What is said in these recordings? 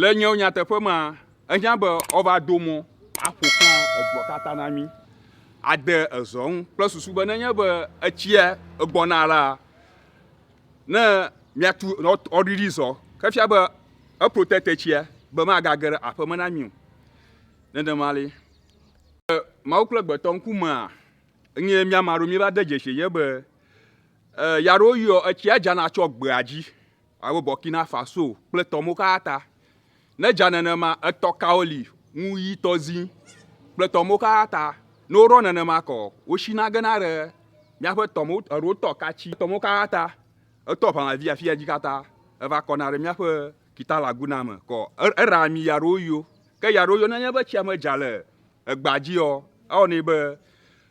Le nyewo nyateƒe mea, ehiã be woava do mɔ aƒo xlã egbɔ katã na mí, ade ezɔ ŋu kple susu be nenye be etsia gbɔna la, ne míatu woaɖiɖi zɔ. Ke fia be eprotect etsia be magage ɖe aƒe me na mí o. Nenema li. Le Mawu kple gbetɔ ŋkumea, enye mía ame aɖewo míeva de dzesi ye be, e, ya ɖewo yɔ etsia dzana tsɔ gbea dzi. Alo Burkina Faso kple tɔ mo ka ta? Ne edza nenema, etɔ kawo li ŋu ɣi tɔ zi kple tɔ mo ka ta? Ne woɖɔ nenema kɔ, wosina gena ɖe míaƒe tɔ mo alo tɔ ka tsi? Tɔ mo ka ta? Etɔ ʋã vi afia dzi kata eva kɔna ɖe míaƒe kita laguna me kɔ. Eɖa ami ya ɖo yio. Ke ya ɖo yio. Ne nye be tsia me dza le egbea dzi ɔ, ewɔ nɛ be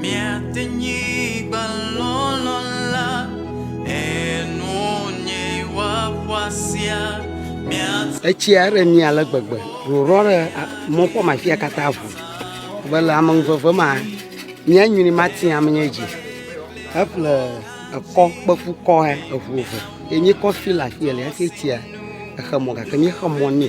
Miate nyigbalɔlɔ̃ la, enu nye wa ƒua sea, miate. Etsia eɖe mi ale gbegbe, rorɔ ɖe mɔ ƒɔm afia katã ʋu, be le ame ŋuveve ma, mia nyui mati ame nye dzi. Eƒle ekɔ kpeƒu kɔ he eʋu eve, ye mi kɔ fi le afia le hafi etsia exe mɔ gake mi xe mɔ nɛ.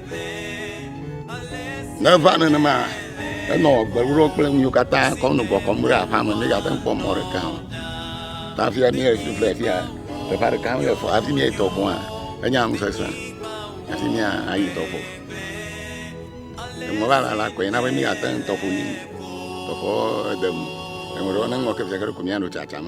Ne eva nenema, enɔ gbeɖuɖɔ kple nu yiwo katã kɔ nɔ kɔkɔm ɖe aƒea me ne yeate ŋu kpɔ mɔ ɖeka o. Ta fia ne esu fle fia, teƒea ɖeka mele fɔ hafi ne etɔ gɔ̃a, enya nu sesẽ hafi ne ayi tɔƒo. Emɔ va lala koe na be míate ŋu tɔƒo yi. Tɔƒoa de ŋu. Eŋuɖewo ne ŋlɔ ke fiaɖuɖu ko míanɔ tsatsam.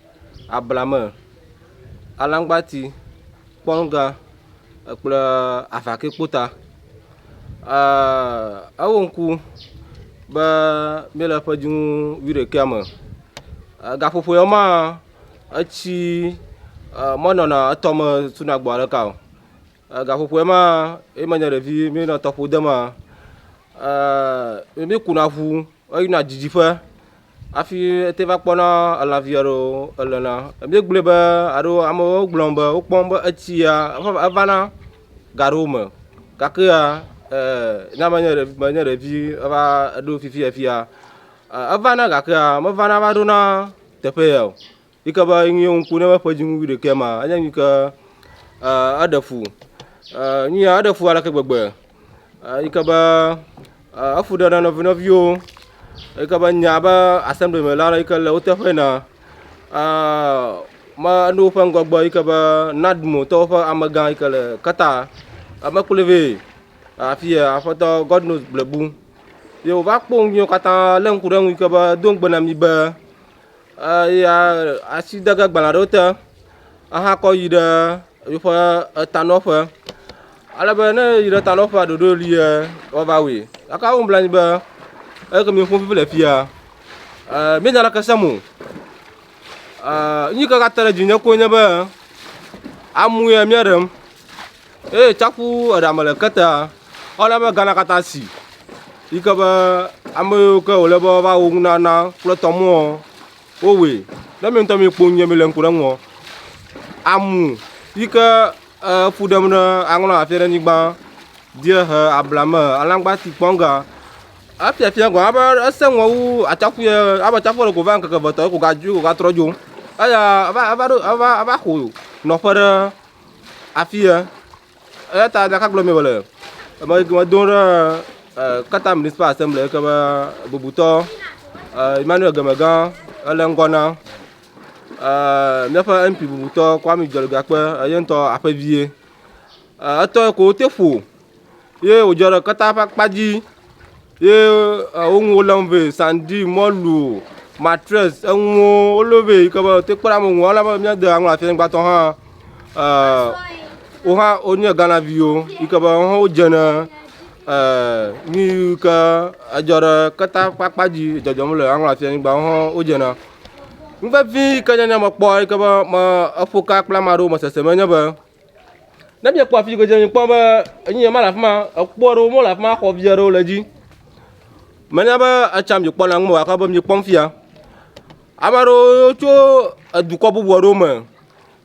abla me, alaŋgbati, kpɔnŋga kple avakɛ kpota. Ewo ŋku be míele ƒe dzinu wuiɖekɛ me. Gaƒoƒo ya mea etsi menɔna etɔ me sona gbɔ ɖeka o. Gaƒoƒo ya mea ye menye ɖevi míenɔ tɔƒo dema. Míkuna ŋu heyina didiƒe. Hafi ete va kpɔna elã vi aɖewo elena. Ebi gblɔe be alo amewo gblɔ be wokpɔ be etsia evana ga aɖewo me gake ya e ne menye ɖevi menye ɖevi eva ɖo fifi afia evana gakea mevana va ɖona teƒe ya o. Yi ke be nu ye ŋku ne eƒe dzinu wuiɖekɛ ma enye nu yi ke eh, eɖe fu. Eh, nu ya eɖe fu aleke gbegbe eh, yi ke be eh, efu ɖe na nɔvi nɔviwo yi ke be nya be assembly me la yi ke le wo teƒe na eh, me ne woƒe ŋgɔgbe yi ke be nadmo tɔwo ƒe amegã yi ke le kata eme kplɔe vɛ afi ya aƒetɔ god knows blebu ye wòva kpɔ nu yiwo katã lé ŋku ɖe eŋu yi ke be do ŋugbe na mi be Eya asi de ge agbalẽ aɖewo te ahakɔ yi ɖe eƒe etanɔƒe. Ale be ne eyi ɖe etanɔƒea ɖoɖo ʋlie woava wui. Gake wom bla anyi be eyi ke mim ƒom vevie le afi ya e menya leke sem o. E nu yi ke gate ɖe edzi na mi nye be amee mia ɖem. eye tsaƒu eɖa me le ketea, ewɔna be Ghana katã si yi ke be ame yiwo ke wòle be woava wo nunana kple tɔmeɔ, wowɔe. Ne mi ŋutɔ mikpɔ nu yie mile ŋku ɖe eŋuɔ, amu yi ke eƒu ɖem ɖe aŋlɔ afia ɖe anyigba die he ablame, alãgbati, kpɔnga. Efia fia gɔ̃ abe esẽ ŋɔ wu atsaƒu ye abe atsaƒuɔ ɖeko va ŋkeke eve tɔ ye ko gadzo ye ko gatrɔ dzo. Eya eva eva ɖo eva eva xo nɔƒe ɖe. Afi ye, eya ta ɖeka gblɔ mi wòle, eme yi ke medo ɖe eh, Qatar Municipal Assembly yi ke be bubutɔ eh, Emmanuel Gemegã ele ŋgɔ na eh, míaƒe MP bubutɔ Kwame Dzeligakpe eye ŋutɔ aƒevie. Eh, etɔ yi ko wote ƒo ye wòdzɔ ɖe keta ƒe akpa dzi ye wo nuwo lém vɛ, sandi, mɔlu, matress, enuwo wolém vɛ yi ke be woate ŋu kpɔɖe ame nuwo ale be míade aŋlɔ afi ŋgbatɔ hã wo hã wonye Ghanaviwo yi ke be woawo hã wodze ne nu yi ke edzɔ ɖe keta ƒe akpa dzi le dzɔdzɔm le aŋlɔ afi anyigba woawo hã wodze ne. Nu vevi yi ke nye mekpɔ yi ke be me eƒoka kple ame aɖewo mesese me enye be. Ne miekpɔ afi ke dze mi kpɔ be enyi yema le afi ma, ekpo aɖewo mɔ le afi ma, xɔ vi aɖewo le edzi. Menya be etsa mi kpɔ na ŋu gake be mi kpɔm fia. Ame aɖewo tso edukɔ bubu aɖewo me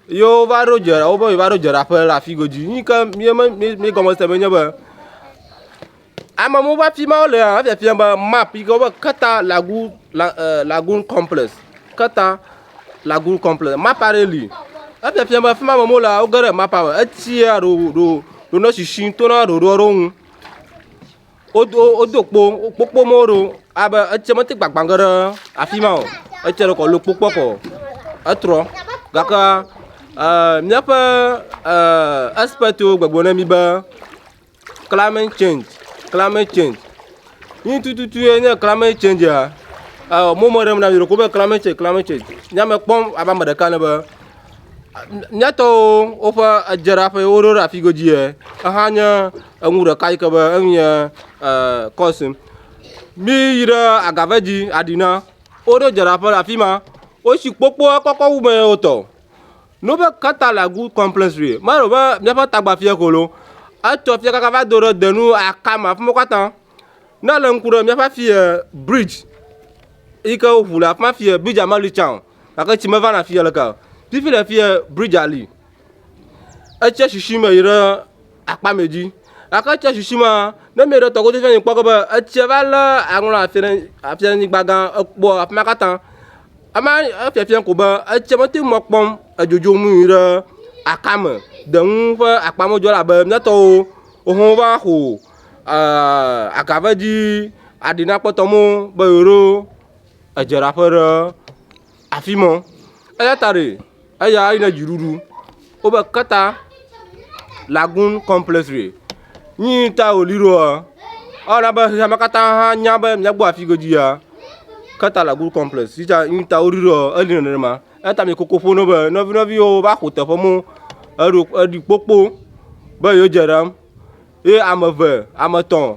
ye wova ɖo dze wobe yewo va ɖo dzraƒe le afi godzi. Nuyi ke mi mi mi gɔme se be nye be Ame mɔwo va fima wole efiafia be map yi ke wobe keta lagu la e lagun complex keta lagun complex map aɖe li. Efiafia be fima ame mɔwo le woge ɖe map me. Etsia ɖo ɖo ɖo ne sisi to na ɖoɖoa ɖewo nu. Wodo wodo kpo kpokpo mɔwo ɖo abe etsia mete gbagbã ge ɖe afi ma o. Etsia ɖeko lo kpokpoa kɔ etrɔ gake e miaƒe e expertwo gbɔgblɔ na mi be. Climate change, climate change, nu tututu ye nye climate change ya, ewɔ mɔ me ɖem na mi ɖeko be climate change, climate change, nye ya mekpɔm abe ame ɖeka ene be, mía tɔwo woƒe edzraƒe yi woɖo ɖe afi godzi ye, exa nye enu ɖeka yi ke be enu nye cause nu. Mí yi ɖe agave dzi aɖi na, woɖo dzraƒe le afi ma, wotsi kpokpoa kɔkɔ wu me ye wotɔ o. No be kata la gu complex re. Ma ro be mia fa tagba fia kolo. A to fia kaka va do re denu a kama fmo kata. Na le nku re mia fa fia bridge. I ke u fula fma fia bridge a mali chao. A ke chime va na fia le ka. Ti fi le fia bridge a li. E che shishi me ira. akpa mɛ dzi. Gake etsia sisi ma, ne mieɖo tɔ godo fiae kpɔ ge be etsia va lé aŋlɔ afia ɖe afia nyigba gã ekpɔ afi ma katã. Ema efiafiam ko be etsia mete ŋu akpɔ edzodzo nu nyui ɖe aka me. Deŋu ƒe akpa me dzɔ elabe mía tɔwo woho va xo e aga va edzi aɖi na kpɔtɔ mɔ be yewoɖo edzraƒe ɖe. afi mɔ. Eya ta ɖe eya eyi ne dziɖuɖu wobe keta lagoon complex re. Nyi ta wòli ɖoa, ewɔna be xexea me katã hã nya be míagbɔ afi godzi ya, keta lagoon complex yi ta nyi ta woɖi ɖoa, eli nenema. Eya ta mele koko ƒom na wo be nɔvi nɔviwo va ƒo teƒe mɔ eɖo eɖi kpokpo be yewo dze ɖam. Ye ame eve, ame etɔ̃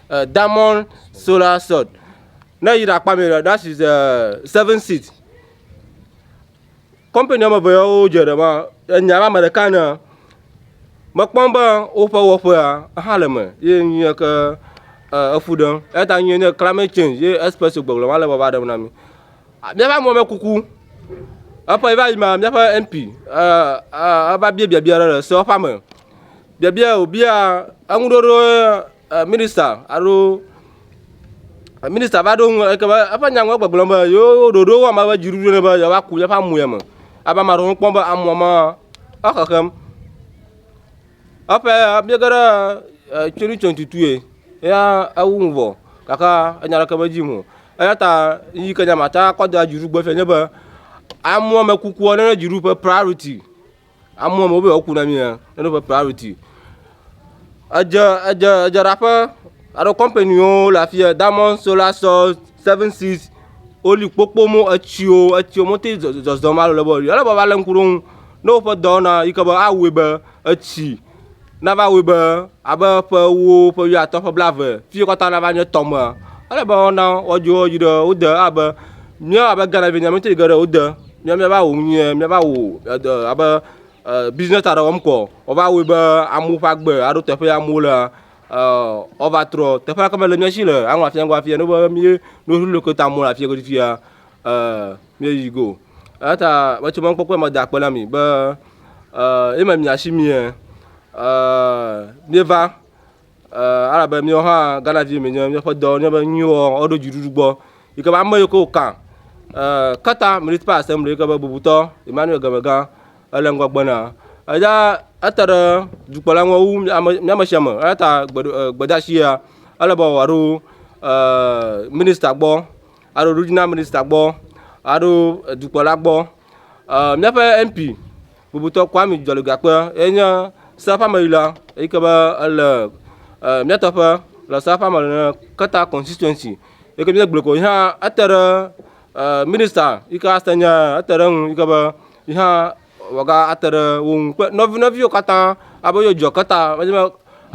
uh, diamond solar sword ne yi ɖakpa mi ɖe that is uh, seven seat company ame eve yawo dze ɖe ma enya la ame ɖeka ne mekpɔm be woƒe wɔƒea hã le me ye nye ke uh, efu ɖem eya ta nye nye climate change ye express gbɔgblɔ ma le baba ɖem na mi míaƒe amɔme kuku eƒe va yi ma míaƒe mp eva bia biabia ɖe le sewoƒa me biabia wòbia eŋuɖoɖo eh, minister alo eh, minister va ɖo ŋu eke be eƒe nyaŋua gbegblɔ be yewo ɖoɖo wɔm ebe dziɖuɖu ne be yewoa ku yeƒe amu ya me abe ame aɖewo kpɔm be amua ma exexem eƒe biege ɖe eh, tsoni tson tutue ya ewu ŋu vɔ gake enya ɖeke me dzi mu eya ta yi ke nyamata kɔ da dziɖugbe fia nye be amua me kukua ne dziɖuƒe priority Amewo me wobe yewoku na mi ya ne woƒe priority. Edze edze edzraƒe alo companywo le afi ya Diamond Solar Source, Seven Seas woli kpokpomo etsiwo etsiwo mete zɔzɔm alo le be o. Ele be woalé ŋku ɖe wo ŋu ne woƒe dɔ wɔna yi ke be awɔe be etsi nava wɔe be abe ƒe ewo, ƒe wuiatɔ̃, ƒe blaeve, fiyi katã nava nye tɔ mea, ele be woana woadzo edzi ɖe wo de abe míawo abe Ghana vinyɛ míawo ŋutɔ yi ge ɖe wo de míawo míava wɔ nu nyuie, míava wɔ eɖe abe e business aɖe wɔm kɔ. Wova wɔe be amewo ƒe agbe aɖo teƒe yi amewo lea e woava trɔ. Teƒe ɖeka mele mía si le aŋɔ afia ŋgɔ afia ne be mí nu ɖe leke ta mɔ le afia godzi fia e. Míeyi go. Eya ta metsɔ mɔkpɔkpɔe me da akpe na mi be eh, eme mia shi mie eh, míeva eh, alabe míawo hã Ghana vi mi nye míaƒe dɔ nye be nyuiwɔ woɖo dziɖuɖu gbɔ yi ke be ame yiwo ke wòkã eh, kata municipal assembly yi ke be bubutɔ Emmanuel Gemegã ele ŋgɔgbe na eya ete ɖe dukplɔla ŋu wu mía ame mía ame sia ame eya ta gbeɖo- eh, gbedeasi ya ele be wòaɖo eh, minista gbɔ aɖo ɖoɖina minista gbɔ aɖo dukplɔla gbɔ míaƒe MP bubutɔ Kwame Dzɔlegakpe ye nye seaƒe ameɣila eyi ke be ele mía teƒe le seaƒe ame le keta constituency yi ke míele gblɔe ko yi hã ete ɖe minista yi ke ate nye ete ɖe eŋu yi ke be yi hã wɔga ate ɖe wo ŋu kple nɔvi nɔviwo katã abe yewo dzɔ keta wodze be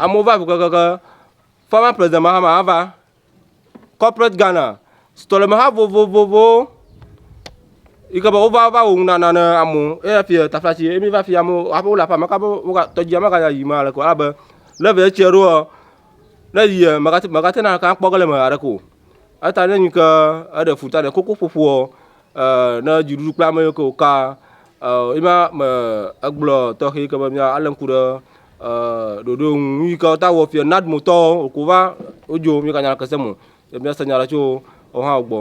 amewo va ŋu kekeake former president Mahama hã va Corporate Ghana, srɔ̃lemeha vovovowo yi ke be wova va wò ŋu nana ne amewo eya fi tafla si emi va fi amewo hafi wole aƒe ame ka be woga tɔdzia meganya yi ma aleke o abe ne ve etsia ɖoa ne yi megate megate na kan kpɔ ge le me aɖeke o eta ne nyi ke eɖe futa ne koko ƒoƒoa eh, ne dziɖuɖu kple ame yiwo ke wòka, eh, ye ma me egblɔ tɔxɛ yi ke be mía alé ŋku ɖe eh, ɖoɖo ŋu yi ke wota wɔ fia nadmotɔwo wòko va wodzo mí ganya le kese mo ye mía se nya le tso wohã gbɔ.